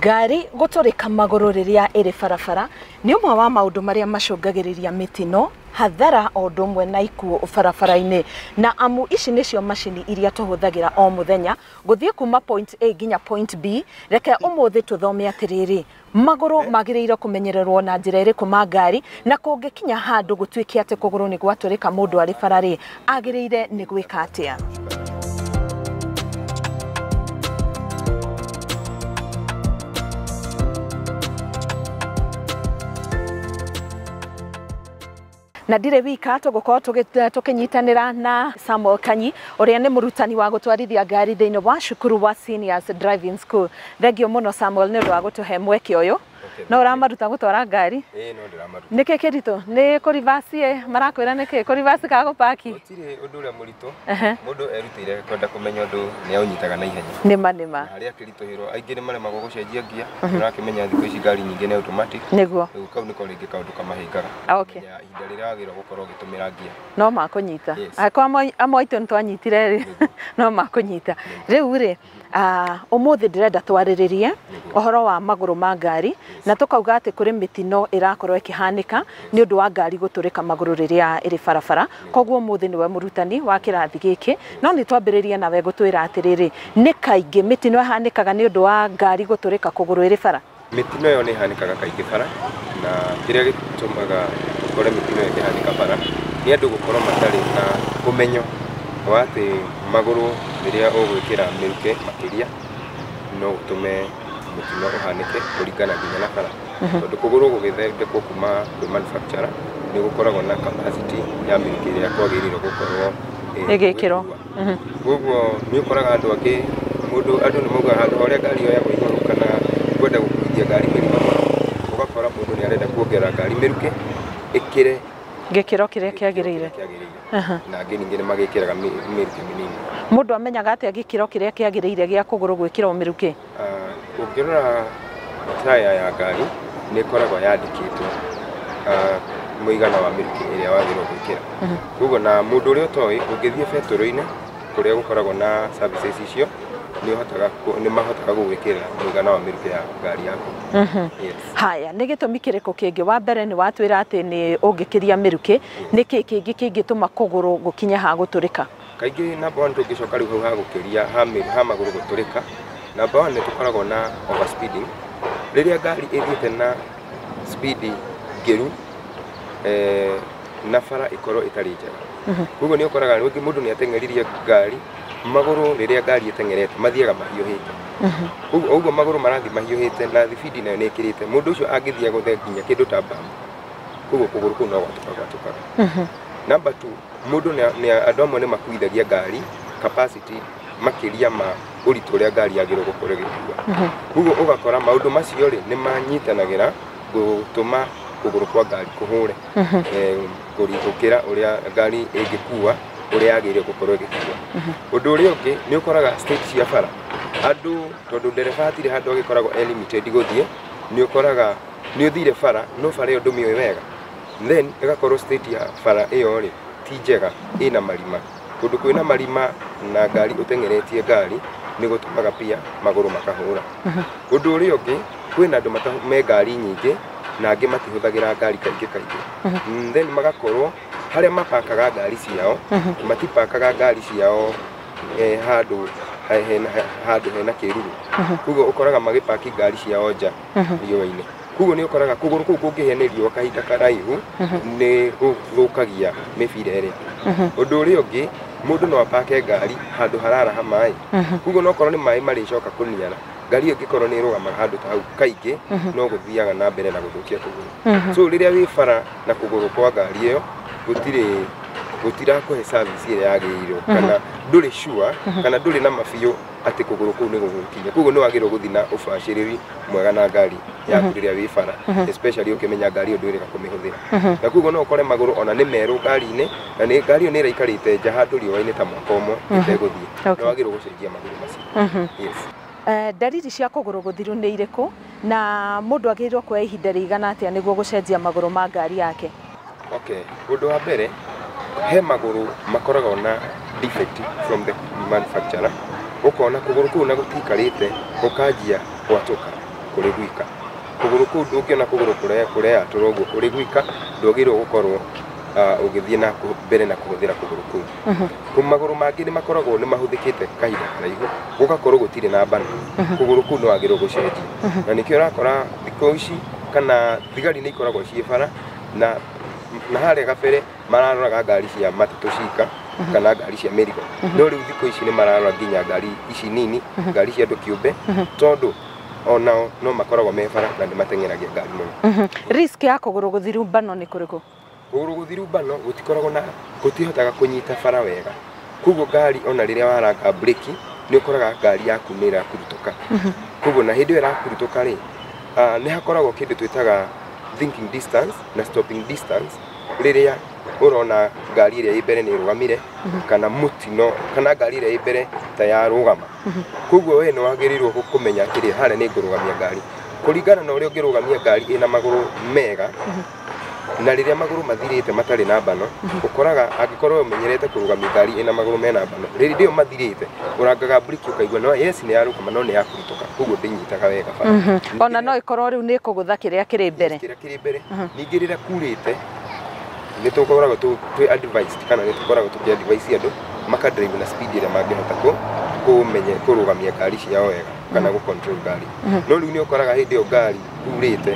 ngari gũtũrĩka magũrũ rĩrĩa ĩrĩ barabara nĩ ũmwe wa maũndũ marĩa macũngagĩrĩria mĩtino hathara o ũndũ ũmwe na ikuũ barabara-inĩ na amu ici nĩcio macini iria tũhũthagĩra o mũthenya Ngũthiĩ kuuma point A nginya point B, reke ũmũthĩ tũthome atĩrĩrĩ, magũrũ eh. magĩrĩirwo kũmenyererwo na njĩra ĩrĩkũ ma ngari, na kũngĩkinya handũ gũtuĩke atĩ kũgũrũ nĩ gwatũrĩka mũndũ arĩ bara rĩ, agĩrĩire nĩ gwĩka atĩa? na ndirĩ wika tũgũkorwo tũgĩ- tũkĩnyitanĩra na Samuel Kanyi ũrĩa nĩ mũrutani wa gũtwarithia ngari thĩinĩ wa cukuru wa Seniors Driving School. Thengio mũno Samuel nĩ ũndũ wa gũtũhe mweke ũyũ. No ũramaruta gũtwara ngari? Ĩĩ no ndĩramaruta. Nĩkĩ kĩritũ? Nĩ kũribacĩ ĩ? Marakwĩra nĩkĩ? Kũribacĩ kana gũpaki? Gũtirĩ ũndũ ũrĩa mũritũ mũndũ erutĩire kwenda kũmenya ũndũ nĩ aũnyitaga na ihenya. Nĩma nĩma. Na harĩa akĩritũhĩrwo aingĩ nĩ maremagwo gũcenjia ngia. Nĩ ũrakĩmenya thikũ ici ngari nyingĩ nĩ automatic. Nĩguo. Rĩu kau nĩko rĩngĩ kaũndũ kamahĩngaga. Okay. Kũmenya ihinda rĩrĩa wagĩrĩirwo gũkorwo ũgĩtũmĩra ngia. No makũnyita. Yes. Angĩkorwo amwe aitũ nĩ twanyitire rĩ, no makũnyita. Rĩu rĩ, Ah, ũmũthĩ ndĩrenda twarĩrĩrie ũhoro wa magũrũ ma ngari na tũkauga atĩ kũrĩ mĩtino ĩrakorwo ĩkĩhanĩka nĩ ũndũ wa ngari gũtũrĩka magũrũ rĩrĩa ĩrĩ barabara koguo ũmũthĩ nĩwe mũrutani wa kĩrathi gĩkĩ no nĩ twambĩrĩrie nawe gũtwĩra atĩrĩrĩ nĩ kaingĩ mĩtino ĩhanĩkaga nĩ ũndũ wa ngari gũtũrĩka kũgũrũ ĩrĩ bara Mĩtino ĩyo nĩ ĩhanĩkaga kaingĩ bara, na kĩrĩa gĩtũmaga ũkore mĩtino ĩyo ĩkĩhanĩka bara, nĩ andũ gũkorwo matarĩ na ũmenyo wa atĩ magũrũ rĩrĩa ũgwĩkĩra mĩrukĩ makĩria, no ũtũme mũtino ũhanĩke kũringana nginya na bara. Tondũ kũgũrũ gũgĩthondekwo kuma kwĩ manufacturer, nĩ gũkoragwo na capacity ya mĩrukĩ ĩrĩa kwagĩrĩirwo gũkorwo ĩgĩkĩrwo. Koguo nĩ ũkoraga andũ angĩ mũndũ andũ nĩ maugaga handũ ha ũrĩa ngari yoyagwo igũrũ kana kwenda gũkuithia ngari mĩrigo mũno, ũgakora mũndũ nĩ arenda kuongerera ngari mĩrukĩ ĩkĩre Gĩkĩro kĩrĩa kĩagĩrĩire. kĩagĩrĩire. Na angĩ ningĩ nĩ magĩkĩraga mĩ- mĩrukĩ mĩnini. Mũndũ amenyaga atĩa gĩkĩro kĩrĩa kĩagĩrĩire gĩa kũgũrũ gwĩkĩrwo mĩrukĩ? Ũngĩrora taya ya ngari nĩ ĩkoragwo yandĩkĩtwo mũigana wa mĩrukĩ ĩrĩa wagĩrĩirwo gwĩkĩra. Koguo na mũndũ ũrĩa ũtoĩ ũngĩthiĩ betũrũ-inĩ kũrĩa gũkoragwo na services icio nĩ ũhotaga nĩ mahotaga gũgwĩkĩrĩra mũigana wa mĩrukĩ ya ngari yaku. Yes. Haya, nĩ gĩtũmi kĩrĩkũ kĩngĩ? Wa mbere nĩ watwĩra atĩ nĩ ũngĩkĩria mĩrukĩ, nĩ kĩĩ kĩngĩ kĩngĩtũma kũgũrũ gũkinye ha gũtũrĩka? Kaingĩ number one tũngĩcoka rĩu hau ha gũkĩria ha mĩ- ha magũrũ gũtũrĩka, number one nĩ tũkoragwo na over speeding. Rĩrĩa ngari ĩthiĩte na speed ngĩru eh, na bara ĩkorwo ĩtarĩ njega. Koguo nĩ ũkoraga rĩngĩ mũndũ nĩ ateng'eririe ngari, magũrũ rĩrĩa ngari ĩteng'erete mathiaga mahiũhĩte. Koguo o ũguo magũrũ marathiĩ mahiũhĩte na thibindi nayo nĩ ĩkĩrĩte, mũndũ ũcio angĩthiĩ agũthe nginya kĩndũ ta mbaũ, koguo kũgũrũ kũu no gwatũka gwatũkaga. Number two, Mũndũ andũ amwe nĩ makuithagia ngari capacity makĩria ma ũritũ ũrĩa ngari yagĩrĩirwo gũkorwo ĩgĩkua. Mhm. Koguo ũgakora maũndũ macio rĩ nĩ manyitanagĩra gũtũma kũgũrũ kwa ngari kũhũre mhm. eh, gũkĩra ũrĩa ngari ĩngĩkua ũrĩa yagĩrĩirwo gũkorwo ĩgĩkua. Mhm. Ũndũ ũrĩa ũngĩ nĩ ũkoraga stage cia bara andũ tondũ ndereba hatirĩ handũ agĩkoragwo e limited gũthiĩ, nĩ ũkoraga nĩ ũthire bara no bara ĩyo ndũmĩũĩ wega then ĩgakorwo state ya bara ĩyo rĩ ti njega ĩna marima. Kũndũ kwĩna marima na ngari ũteng'eretie ngari nĩ gũtũmaga pia magũrũ makahũra. Ũndũ ũrĩa ũngĩ kwĩna andũ mata- me ngari nyingĩ na angĩ matihũthagĩra ngari kaingĩ kaingĩ. Mm, Then magakorwo harĩa mapakaga ngari ciao matipakaga ngari ciao eh, handũ he- hena- handũ hena kĩruru. Koguo ũkoraga magĩpaki ngari ciao nja riũa-inĩ. koguo nĩ ũkoraga kũgũrũ kũu kũngĩhĩa nĩ riũa kahinda karaihu nĩ gũthũkagia mĩbira ĩrĩa ũndũ ũrĩa ũngĩ mũndũ no apake ngari handũ hararaha maĩ koguo no korwo nĩ maĩ marĩcoka kũniara ngari ĩyo ĩngĩkorwo nĩ ĩrũgamaga handũ ta hau kaingĩ no gũthiaga na mbere na gũthũkia kũgũrũ so rĩrĩa wĩ bara na kũgũrũ kwa ngari ĩyo gũtirĩ gũtirakũhe service ĩrĩa yagĩrĩirwo kana ndũrĩ sure kana ndũrĩ na ma biũ atĩ kũgũrũ kũu nĩ gũgũkinya koguo nĩ wagĩrĩirwo gũthiĩ na ũbacĩrĩri mwega na ngari yaku rĩrĩa wĩ bara especially ũkĩmenya ngari ĩyo ndwĩrĩga kũmĩhũthĩra na koguo no ũkore magũrũ ona nĩ merũ ngari-inĩ na nĩ ngari ĩyo nĩ ĩraikarĩte nja handũ riũa-inĩ ta mwaka ũmwe ĩtegũthiĩ Okay. nĩ wagĩrĩirwo gũcenjia magũrũ macio yes Eh, ndariri cia kũgũrũ gũthiru nĩ irĩkũ na mũndũ agĩrĩirwo kuoya ihinda rĩigana atĩa nĩguo gũcenjia magũrũ ma ngari yake Okay, ũndũ wa mbere he magũrũ makoragwo na defect from the manufacturer, ũkona kũgũrũ kũu na gũtikarĩte gũkanjia gwatũka kũrĩ gwika. Kũgũrũ kũu ndũngĩona kũgũrũ kũreyatũra ũguo kũrĩ gwika, ndwagĩrĩirwo gũkorwo ah, ũgĩthiĩ na kũ- mbere na kũhũthĩra kũgũrũ kũu. Kũ- Magũrũ mangĩ nĩ makoragwo nĩ mahũthĩkĩte kahinda karaihu, gũgakorwo gũtirĩ na mbana, kũgũrũ kũu nĩ wagĩrĩirwo gũcenjia. Na nĩkĩo ũrakora thikũ ici kana thigari nĩ ikoragwo ciĩ bara, na na harĩa gabere mararoraga ngari cia matatũ cika kana ngari cia mĩrigo no rĩu thikũ ici nĩ mararora nginya ngari ici nini ngari cia andũ kĩũmbe tondũ onao no makoragwo me bara na nĩ mateng'eragia ngari mũno risk ya kũgũrũ gũthiru mbano nĩ kũrĩkũ kũgũrũ gũthiru mbano gũtikoragwo na gũtihotaga kũnyita bara wega koguo ngari ona rĩrĩa waranga breki nĩ ũkoraga ngari yaku nĩ ĩrakurutũka koguo na hĩndĩ ĩyo ĩrakurutũka rĩ ah, nĩ hakoragwo kĩndũ twĩtaga thinking distance na stopping distance rĩrĩa ũrona ngari ĩrĩa ĩ mbere nĩ ĩrũgamire kana mũtino kana ngari ĩrĩa ĩ mbere ta ya rũgama koguo we nĩ wagĩrĩirwo gũ- kũmenya atĩrĩ harĩa nĩ ngũrũgamia ngari kũringana na ũrĩa ũngĩrũgamia ngari ĩna magũrũ mega na rĩrĩa magũrũ mathirĩte matarĩ na mbano ũkoraga angĩkorwo ũmenyerete kũrũgamia ngari ĩna magũrũ mena mbano rĩrĩa ĩyo mathirĩte ũrangaga mburĩki ũkaigua no yes nĩ yarũgama no nĩ yakuma kũhĩtũka koguo ndĩnyitaga wega bara Mhm. Ningĩ ona no ĩkorwo rĩu nĩ kũgũtha kĩrĩa kĩrĩ mbere kĩrĩa kĩrĩ mbere Mhm. ningĩ rĩrĩa kurĩte nĩ tũkoragwo tũ- twĩ advised kana nĩ tũkoragwo tũkĩ advise andũ maka drive na speed ĩrĩa mangĩhota kũ kũmenye kũrũgamia ngari ciao wega kana gũ control ngari Mhm. no rĩu nĩ ũkoraga hĩndĩ ĩyo ngari kurĩte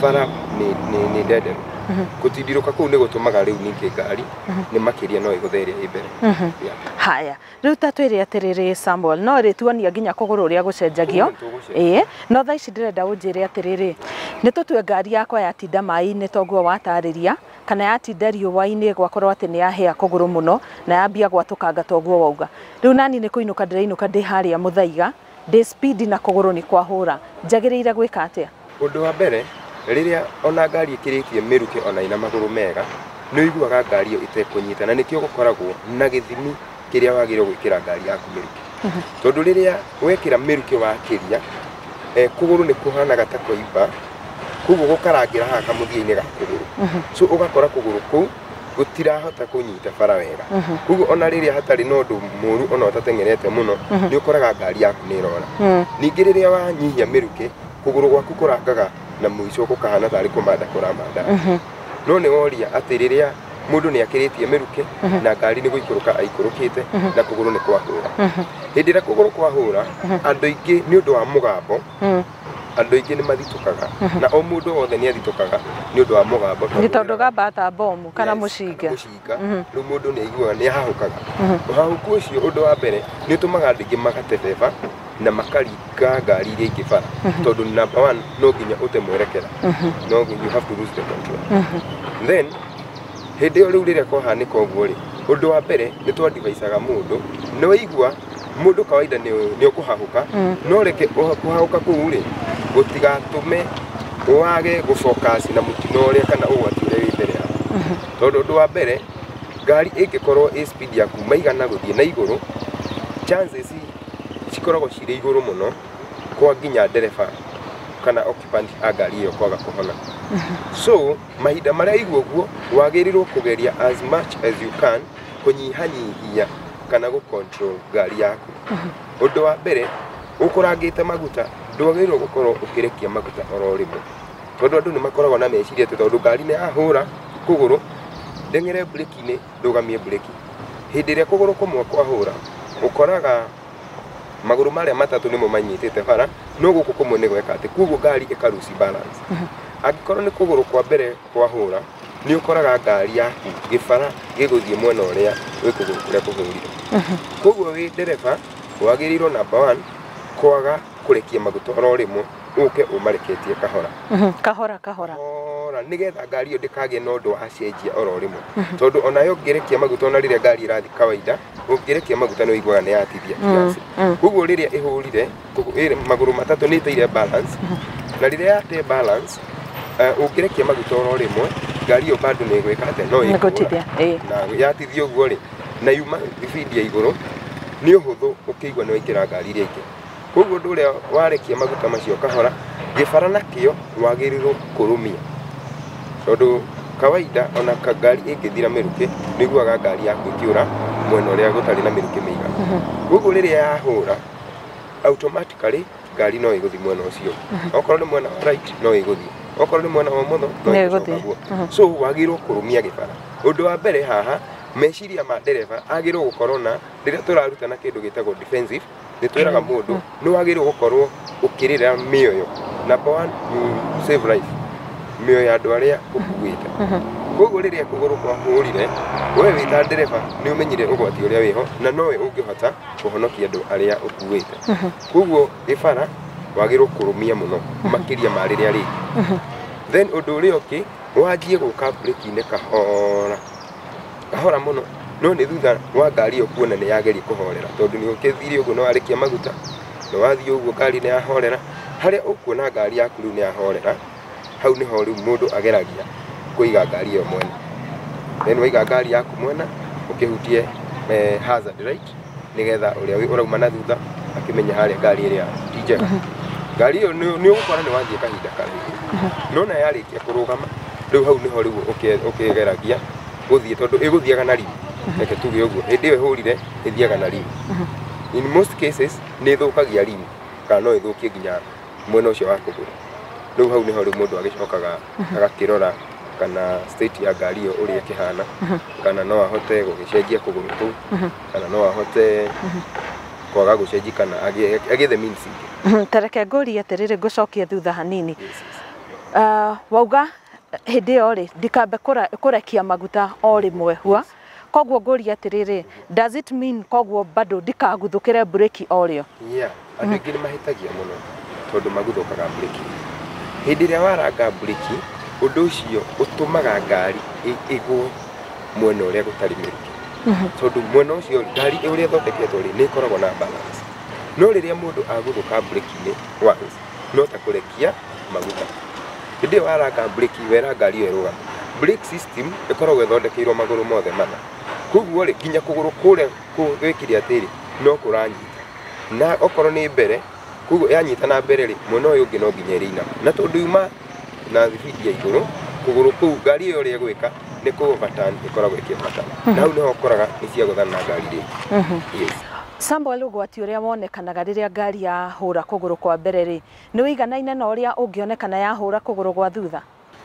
bara nĩ nĩ nĩ ndenderu Mhm. gũtindirũka kũu nĩ gũtũmaga rĩu ningĩ ngari Mhm. nĩ makĩria no ĩgũthe ĩrĩa ĩ mbere Mhm. Yeah. haya Rĩu ta twĩre atĩrĩrĩ Samuel, no rĩtuonia nginya kũgũrũ ũrĩa gũcenjagio. Ĩĩ, no thaa ici ndĩrenda ũnjĩre atĩrĩrĩ, nĩ tũtue ngari yakwa yatinda maĩ-inĩ ta ũguo watarĩria, kana yatinda riũa-inĩ gwakorwo atĩ nĩ yahĩa kũgũrũ mũno na yambia gwatũkanga ta ũguo wauga. Rĩu nani nĩ kũinũka ndĩrainũka ndĩ harĩa mũthaiga, Ndĩ speed na kũgũrũ nĩ kwahũra. Njagĩrĩire gwĩka atĩa? Ũndũ wa mbere, rĩrĩa o na ngari ĩkĩrĩtie mĩrukĩ o na ĩna magũrũ mega, nĩ ũiguaga ngari ĩyo ĩtekũnyita na nĩkĩo gũkoragwo na gĩthimi kĩrĩa wagĩrĩirwo gwĩkĩra ngari yaku mĩrukĩ. Tondũ rĩrĩa wekĩra mĩrukĩ wakĩria, kũgũrũ nĩ kũhanaga ta kwaimba, kwoguo gũkarangĩra haha kamũthia-inĩ ga kũgũrũ. So ũgakora kũgũrũ kũu gũtirahota kũnyita bara wega Mhm. koguo ona rĩrĩa hatarĩ na ũndũ mũru ona ũtateng'erete mũno Mhm. nĩ ũkoraga ngari yaku nĩ ĩrora Mm. ningĩ rĩrĩa wanyihia mĩrukĩ kũgũrũ gwaku kũrangaga na mũico gũkahana tarĩ kũmanda kũramanda Mhm. no nĩ woria atĩ rĩrĩa mũndũ nĩ akĩrĩtie mĩrukĩ Mhm. na ngari nĩ gũikũrũka aikũrũkĩte Mhm. na kũgũrũ nĩ kwahũra Mhm. hĩndĩ ĩrĩa kũgũrũ kwahũra Mhm. andũ aingĩ nĩ ũndũ wa mũgambo Mm. Andũ aingĩ nĩ mathitũkaga na o mũndũ wothe nĩ athitũkaga nĩ ũndũ wa mũgambo. Nĩ tondũ gamba ta bomu kana mũcinga. Mũcinga. Mhm. Rĩu mũndũ nĩ aiguaga nĩ ahahũkaga. Mhm. Ũhahũku ũcio ũndũ wa mbere nĩ ũtũmaga andũ aingĩ magate beba na makaringa ngari iria ingĩ bara mhm. tondũ number one no nginya ũte mwerekera. Mhm. No you have to lose the control. Then hĩndĩ ĩyo rĩu rĩrĩa kwahanĩka ũguo rĩ, ũndũ wa mbere nĩ twandivaicaga mũndũ nĩ waigua Mũndũ kawaida nĩ ũkũhahũka, no reke kũhahũka kũu rĩ gũtigatũme wage gũfocus na mũtino ũrĩa kana ũgwati ũrĩa wĩ mbere yaku. Tondũ ũndũ wa mbere ngari ĩngĩkorwo ĩ speed ya kuma igana gũthiĩ na igũrũ, chances cikoragwo cirĩ igũrũ mũno kwa nginya ndereba kana occupant a ngari ĩyo kwaga kũhona. So... Mahinda marĩa aigua ũguo, wagĩrĩirwo kũgeria as much as you can kũnyihanyihia kana gũ control ngari yaku. Ũndũ wa mbere, ũkũrangĩte maguta, ndwagĩrĩirwo gũkorwo ũkĩrekia maguta oro rĩmwe. Tondũ andũ nĩ makoragwo na meciria atĩ tondũ ngari nĩ yahũra kũgũrũ, ndeng'ere mburĩki-inĩ, ndũgamie mburĩki. Hĩndĩ ĩrĩa kũgũrũ kũmwe kwahũra, ũkoraga... magũrũ marĩa matatũ nĩmo manyitĩte bara no gũkũ kũmwe nĩ gweka atĩ koguo ngari ĩkaruci balance angĩkorwo nĩ kũgũrũ kwa mbere kwa hũra nĩ ũkoraga ngari yaku gĩbara gĩgũthiĩ mwena ũrĩa wĩ kũgũrũ kũrĩa kũhũrire koguo wĩ ndereba wagĩrĩirwo namba one kwaga kũrekia maguta oro rĩmwe ũke ũmareketie kahora kahora kahora kahora nĩgetha ngari ĩyo ndĩkagĩe na ũndũ wacenjia oro rĩmwe tondũ onayo ũngĩrekia maguta ona rĩrĩa ngari ĩrathiĩ kawaida ũngĩrekia maguta nĩ ũiguaga nĩ yatithia kiasi koguo rĩrĩa ĩhũrire kũgũ- ĩrĩ magũrũ matatũ nĩ ĩteire balance na rĩrĩa yate balance eh, ũngĩrekia maguta oro rĩmwe ngari ĩyo bado nĩ ĩgwĩka atĩ no Nĩ gũtithia, ĩĩ. na yatithia ũguo rĩ na yuma speed ya igũrũ nĩ ũhũthũ ũkĩigua nĩ waingĩra ngari iria ingĩ Koguo ũndũ ũrĩa warekia maguta macio kahora, gĩbara nakĩo wagĩrĩirwo kũrũmia. Tondũ kawaida ona ngari ĩngĩthira mĩrukĩ, nĩ ũiguaga ngari yaku ĩkĩũra mwena ũrĩa gũtarĩ na mĩrukĩ mĩiganu. Koguo rĩrĩa yahũra, automatically ngari no ĩgũthiĩ mwena ũcio. Okorwo nĩ mwena wa right no ĩgũthiĩ, okorwo nĩ mwena wa ũmotho no ĩgũcoka ũguo. So wagĩrĩirwo kũrũmia gĩbara. Ũndũ wa mbere haha, meciria ma ndereba agĩrĩirwo gũkorwo na, rĩrĩa tũrarutana kĩndũ gĩtagwo defensive. Nĩ twĩraga mũndũ nĩ wagĩrĩirwo gũkorwo ũkĩrĩra mĩoyo. Number one, you save life. Mĩoyo ya andũ arĩa ũkuĩte. Koguo rĩrĩa kũgũrũ kwahũrire, we wĩ ta ndereba nĩ ũmenyire ũgwati ũrĩa wĩho na nowe ũngĩhota kũhonokia andũ arĩa ũkuĩte. Koguo gĩbara wagĩrĩirwo kũrũmia mũno makĩria ma rĩrĩa rĩngĩ. Then ũndũ ũrĩa ũngĩ, wanjie gũka break-inĩ kahora. kahora mũno no nĩ thutha wa ngari ĩyo kuona nĩ yageria kũhorera tondũ nĩ ũkĩthire ũguo nĩ warĩkia maguta nĩ wathiĩ ũguo ngari nĩ yahorera harĩa ũkuona ngari yaku rĩu nĩ yahorera hau nĩho rĩu mũndũ ageragia kũiga ngari ĩyo mwena then waiga ngari yaku mwena ũkĩhutie eh, hazard light nigetha uria wi urauma na thutha akimenya haria ngari iria ti njega ngari iyo ni ugukora ni wathie kahinda karaihu nona yarikia kurugama riu hau niho riu ukigeragia guthie tondu iguthiaga na riri reke tuge uguo hindi iyo ihurire ithiaga na riri in most cases ni ithukagia riri kana no ithukie nginya mwena ũcio wa kũgũrũ rĩu hau nĩho rĩu mũndũ agĩcokaga agakĩrora kana state ya ngari ĩyo ũrĩa ĩkĩhana kana no ahote gũgĩcenjia kũgũrũ kũu kana no ahote kwaga gũcenjia kana agĩe agĩe the means ingĩ tareke ngũrie atĩrĩrĩ ngũcokie thutha hanini Ah, wauga hĩndĩ ĩyo rĩ ndikambe kũra- kũrekia maguta o rĩmwe hwa Koguo ngũria atiriri, does it mean koguo bado ndikaguthukire breki o rio? Yeah, andũ aingĩ nĩ mahĩtagia mũno tondũ maguthũkaga breki. Hĩndĩ ĩrĩa waranga breki, ũndũ ũcio ũtũmaga ngari ĩgwe mwena ũrĩa gũtarĩ mĩrukĩ. Mhm. Tondũ mwena ũcio ngari ũrĩa ĩthondeketwo rĩ, nĩ ĩkoragwo na balance. No rĩrĩa mũndũ aguthũka breki-inĩ once, no ta kũrekia maguta. Hĩndĩ ĩyo waraka mburĩki, wera ngari ĩyo ĩrũgame. Brake system ĩkoragwo ĩthondekeirwo magũrũ mothe mana. Koguo rĩ, nginya kũgũrũ kũrĩa gwĩ kĩrĩa atĩrĩ, no kũranyita. Na okorwo nĩ mbere, koguo yanyita na mbere rĩ, mwena ũyũ ũngĩ no nginya ĩrĩina. Na tondũ yuma na thibindi ya igũrũ, kũgũrũ kũu ngari ĩyo ũrĩa ĩgwĩka nĩ kũ overturn ĩkoragwo ĩkĩ overturn. Na hau nĩho ũkoraga nĩ ciagũthana na ngari rĩngĩ. Yes. Samuel, ũgwati ũrĩa wonekanaga rĩrĩa ngari yahũra kũgũrũ kwa mbere-rĩ, nĩ ũiganaine na ũrĩa ũngĩonekana yahũra kũgũrũ gwa thutha?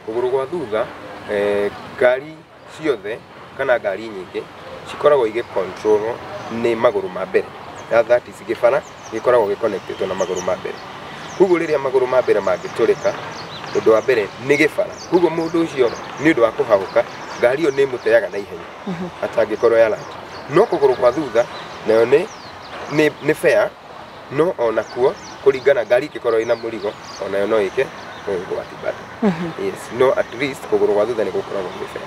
Kũgũrũ gwa thutha, ngari ciothe kana ngari nyingĩ cikoragwo igĩ control-wo nĩ magũrũ ma mbere, that is gĩbara gĩkoragwo gĩ connect-ĩtwo na magũrũ ma mbere. Kogwo rĩrĩa magũrũ ma mbere mangĩtũrĩka, ũndũ wa mbere nĩ gĩbara, kogwo mũndũ ũcio nĩũndũ wa kũhahũka, ngari ĩyo nĩĩmũteaga naihenya. ata angĩkorwo ya rangi no kũgũrũ kwa thutha nayo nĩ nĩ nĩ fair no ona kuo kũringana ngari ĩngĩkorwo ĩna mũrigo onayo no ĩke no ũgwati bado yes no at least kũgũrũ kwa thutha nĩ gũkoragwo gwĩ fair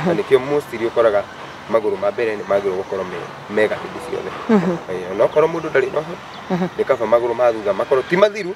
na nĩkĩo mostly ũkoraga magũrũ ma mbere nĩ magĩrĩirwo gũkorwo me mega hĩndĩ ciothe Eh, onakorwo mũndũ ndarĩ na ũhoro nĩ kaba magũrũ ma thutha makorwo ti mathiru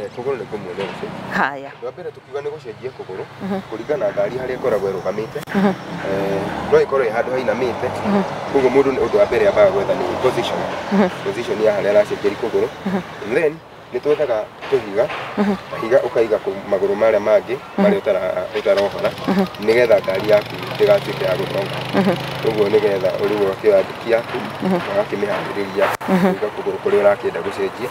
Eh, kũgũrũ nĩ kũmuonia gũcenjia haya wa mbere tukiuga nĩ gũcenjia kũgũrũ kũringana na ngari harĩa ĩkoragwo ĩrũgamĩte Eh, no ĩkorwo ĩ handũ hainamĩte koguo mũndũ nĩ- ũndũ wa mbere ambaga gwetha nĩ position position ya harĩa aracenjeri kũgũrũ then nĩ twethaga tũhiga higa ũkaiga kũ- magũrũ marĩa mangĩ marĩa ũtara- ũtarohora nĩgetha ngari yaku ndĩgatuĩke ya gũtonga koguo nĩgetha ũrĩu ũgakĩoya nduki yaku na ũgakĩmĩharĩrĩria kũiga kũgũrũ kũrĩa ũrakĩenda gũcenjia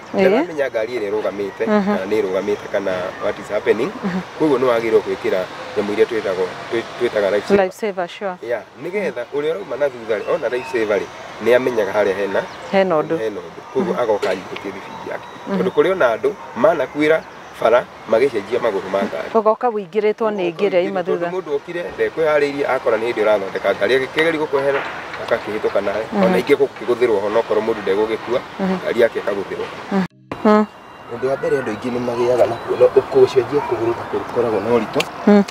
Ĩĩ. ndaramenya ngari ĩrĩa ĩrũgamĩte Aha. kana nĩ ĩrũgamĩte kana what is happening koguo nĩ wagĩrĩirwo gwĩkĩra nyamũ iria twĩtagwo twĩ- twĩtaga life saver. life saver sure Yeah, nĩgetha ũrĩa ũrauma na thutha rĩ ona life saver rĩ nĩ amenyaga harĩa hena hena ũndũ hena ũndũ koguo agoka anyitĩtie thibindi yake tondũ kũrĩ ona andũ manakuĩra bara magĩcenjia magũrũ ma ngari. Ũgoka wĩingĩrĩtwo nĩ ngĩ ĩrĩa yuma thutha. Mũndũ okire ndekwĩharĩirie akora nĩ hĩndĩ ũrathondeka ngari agĩkĩgeria gũkwehera ũgakĩhĩtũka nawe mm. ona ingĩ gũkĩgũthĩrwo ho nokorwo mũndũ ndegũgĩkua mm-hmm. ngari yake ĩkagũthĩrwo mm-hmm. ũndũ wa mbere andũ aingĩ nĩ magĩaga na kuona ũkũcenjia kũgũrũ ta kũrĩ koragwo na ũritũ mm.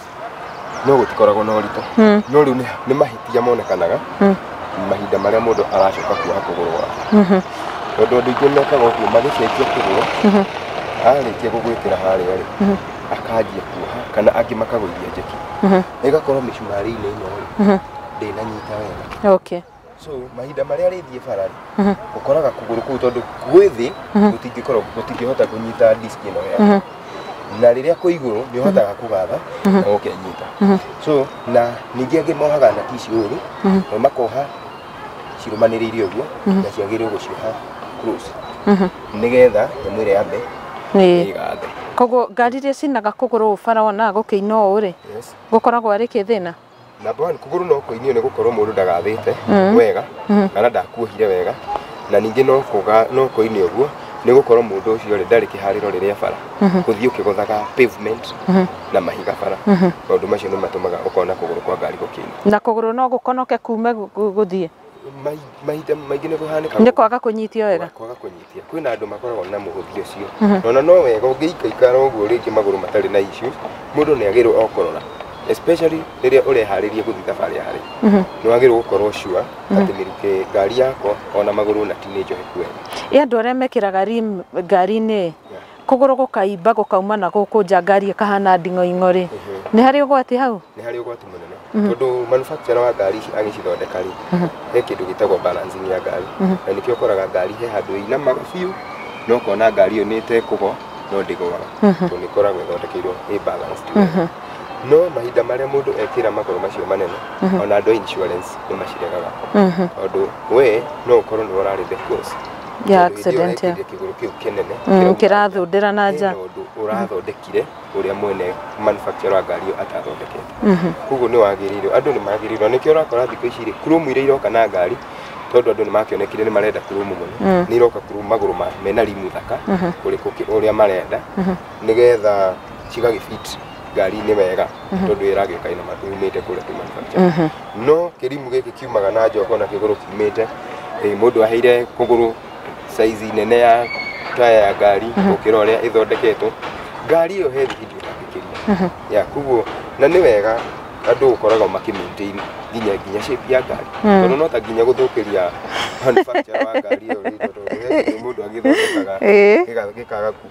no gũtikoragwo na ũritũ Mm. no rĩu nĩ- nĩ mahĩtia monekanaga Mm. mahinda marĩa mũndũ aracoka kuoha kũgũrũ gwake Mhm. tondũ andũ aingĩ mekaga ũguo magĩcenjia kũgũrũ Mhm. arĩkia gũgwĩkĩra harĩa rĩ Mhm. akanjia kuoha kana angĩ makagũithia njeki Mhm. ĩgakorwo mĩcumarĩ-inĩ ĩno rĩ Mhm. ndĩnanyita wega Okay. so mahinda marĩa arĩthiĩ bara rĩ ũkoraga kũgũrũ kũu tondũ gwĩ thĩ gũtingĩkorwo gũtingĩhota kũnyita disk ĩno ya na rĩrĩa kwĩ igũrũ nĩ ũhotaga kũgatha na ũkenyita so na ningĩ angĩ mohaga na tici ũru na makoha cirũmanĩrĩire ũguo na ciagĩrĩirwo gũcioha close nĩgetha nyamũ ĩrĩa yambe Ĩĩ. ĩgathe koguo ngari iria cinaga kũgũrũ ũũ bara wonaga gũkĩina ũũ rĩ yes gũkoragwo arĩ kĩthĩna Number one, kũgũrũ no kũinio nĩ gũkorwo mũndũ ndagathĩte Mm. wega Mhm. kana ndakuohire wega na ningĩ no kũga no kũinio ũguo nĩ gũkorwo mũndũ ũcio rĩ ndarĩ kĩharĩro rĩrĩa bara Mhm. gũthiĩ ũkĩgothaga pavement Mhm. na mahiga bara Mhm. maũndũ macio nĩ matũmaga ũkona kũgũrũ kwa ngari gũkĩina na kũgũrũ no gũkonoke kume gu- gu- gũthiĩ Mai- mahinda maingĩ nĩ kũhanĩkaga nĩ kwaga kũnyitio wega kwaga kũnyitia kwĩna andũ makoragwo na mũhũthi ũcio Mhm. nona no wega ũngĩikaikara ũguo rĩngĩ magũrũ matarĩ na issues mũndũ nĩ agĩrĩirwo o kũrora especially rĩrĩa ũreharĩria gũthiĩ thabarĩ ya haraihu Mhm. nĩ wagĩrĩirwo gũkorwo sure atĩ mĩrukĩ ngari yakwa ona magũrũ na ti nĩ njohe kuega ĩ andũ arĩa mekĩraga rim ngari-inĩ kũgũrũ gũkaimba gũkauma na gũkũ nja ngari ĩkahana nding'oing'o rĩ nĩ harĩ ũgwati hau nĩ harĩ ũgwati mũnene Mhm. tondũ manufacturer wa ngari ici agĩcithondeka rĩ Mhm. he kĩndũ gĩtagwo balancing ya ngari Mhm. na nĩkĩo ũkoraga ngari he handũ ĩinamaga biũ no ũkona ngari ĩyo nĩ ĩtekũgwa no ndĩgwaga Mhm. tondũ nĩ ĩkoragwo ĩthondekeirwo ĩ balanced wega. Mhm. no mahinda marĩa mũndũ ekĩra magũrũ macio manene Mhm. ona andũ a insurance nĩ maciregaga Mhm. tondũ we no ũkorwo nĩ ũrarĩ the cause Kĩndũ hĩndĩ ĩyo accident, ekĩrire yeah. kĩgũrũ kĩu kĩnene Mm, kĩrauma nja. kĩrathũndĩra na nja. Hena ũndũ ũrathondekire ũrĩa mwene manufacturer wa ngari ĩyo atathondekete koguo nĩ wagĩrĩirwo andũ nĩ magĩrĩirwo nĩkĩo ũrakora thikũ ici rĩ kurumu iria iroka na ngari tondũ andũ nĩ makĩonekire nĩ marenda kurumu mũno nĩ iroka kurumu magũrũ ma mena rimu thaka kũrĩ kũkĩ- ũrĩa marenda nĩgetha cigagĩfit ngari nĩ wega tondũ ĩragĩa kaĩ na matu umĩte kũrĩa tu manufacture no kĩrimũ gĩkĩ kiumaga na njoka na kĩgũrũ kiumĩte eh, mũndũ aheire kũgũrũ saizi nene ya taya ya ngari gũkĩra ũrĩa ĩthondeketwo ngari ĩyo he thibidi ũtangĩkĩria ya koguo na nĩ wega andũ gũkoragwo makĩmaintain nginya nginya shape ya ngari tondũ no ta nginya gũthũkĩria manufacture wa ngari ĩyo rĩngĩ tondũ he kĩndũ mũndũ agĩthondekaga Ĩĩ. gĩga- gĩkaga ku-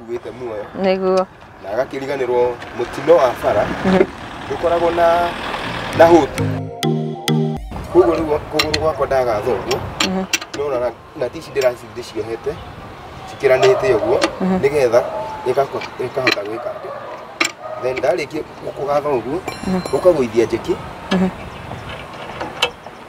ũkuĩte muoyo nĩguo na agakĩriganĩrwo mũtino wa bara ndũkoragwo na na hũtu koguo rĩu kũgũrũ gwakwa ndagathogwo nona na- na tici ndĩraci ndĩciohete cikĩranĩte ũguo nĩgetha ĩgako- ĩkahota gwĩka atĩ then ndarĩkia kũgatha ũguo ũkagũithia njeki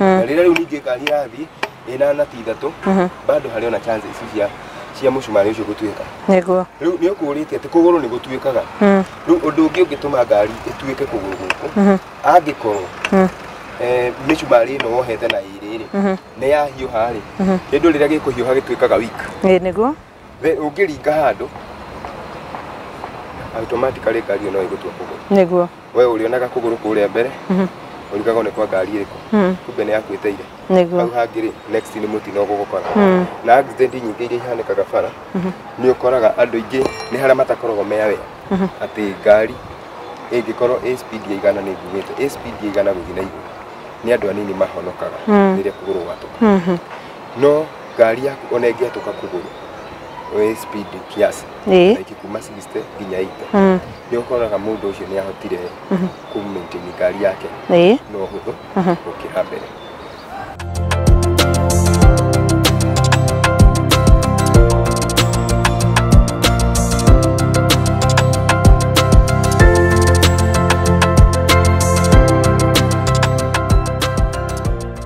na rĩrĩa rĩu ningĩ ngari ĩrathiĩ ĩna nati ithatũ bado harĩ ona chance ici cia cia mũcumarĩ ũcio gũtuĩka nĩguo rĩu nĩ ũkũrĩte atĩ kũgũrũ nĩ gũtuĩkaga rĩu ũndũ ũngĩ ũngĩtũma ngari ĩtuĩke kũgũrũ gũkũ angĩkorwo eh, mĩcumarĩ ĩno wohete na ĩrĩ rĩ nĩ yahiũha rĩ kĩndũ rĩrĩa gĩkũhiũha gĩtuĩkaga weak Ĩ, nĩguo Thĩ ũngĩringa handũ automatically ngari ĩyo no ĩgũtua kũgũrũ nĩguo we ũrĩonaga kũgũrũ kũrĩa mbere Mhm. ũrigaga nĩ kwa ngari ĩrĩkũ Mm, kumbe nĩ yakuĩte ire hau nĩguo hangĩ rĩ next nĩ mũtino ũgũgũkora Mm, na accident nyingĩ iria ihanĩkaga bara Mhm. nĩ ũkoraga andũ aingĩ nĩ harĩa matakoragwo me aware Mhm. atĩ ngari ĩngĩkorwo ĩ speed ya igana nĩ nguĩte ĩ speed ya igana gũthiĩ na igũrũ nĩ andũ anini mahonokaga Mm. rĩrĩa kũgũrũ gwatũka mhm. no ngari yaku ona ĩngĩatũka kũgũrũ wĩ speed kiasi Ĩĩ. like kuma 60 nginya 80 Mm. nĩ ũkoraga mũndũ ũcio nĩ ahotire ku maintain ngari yake Ĩĩ. na ũhũthũ gũkĩra mbere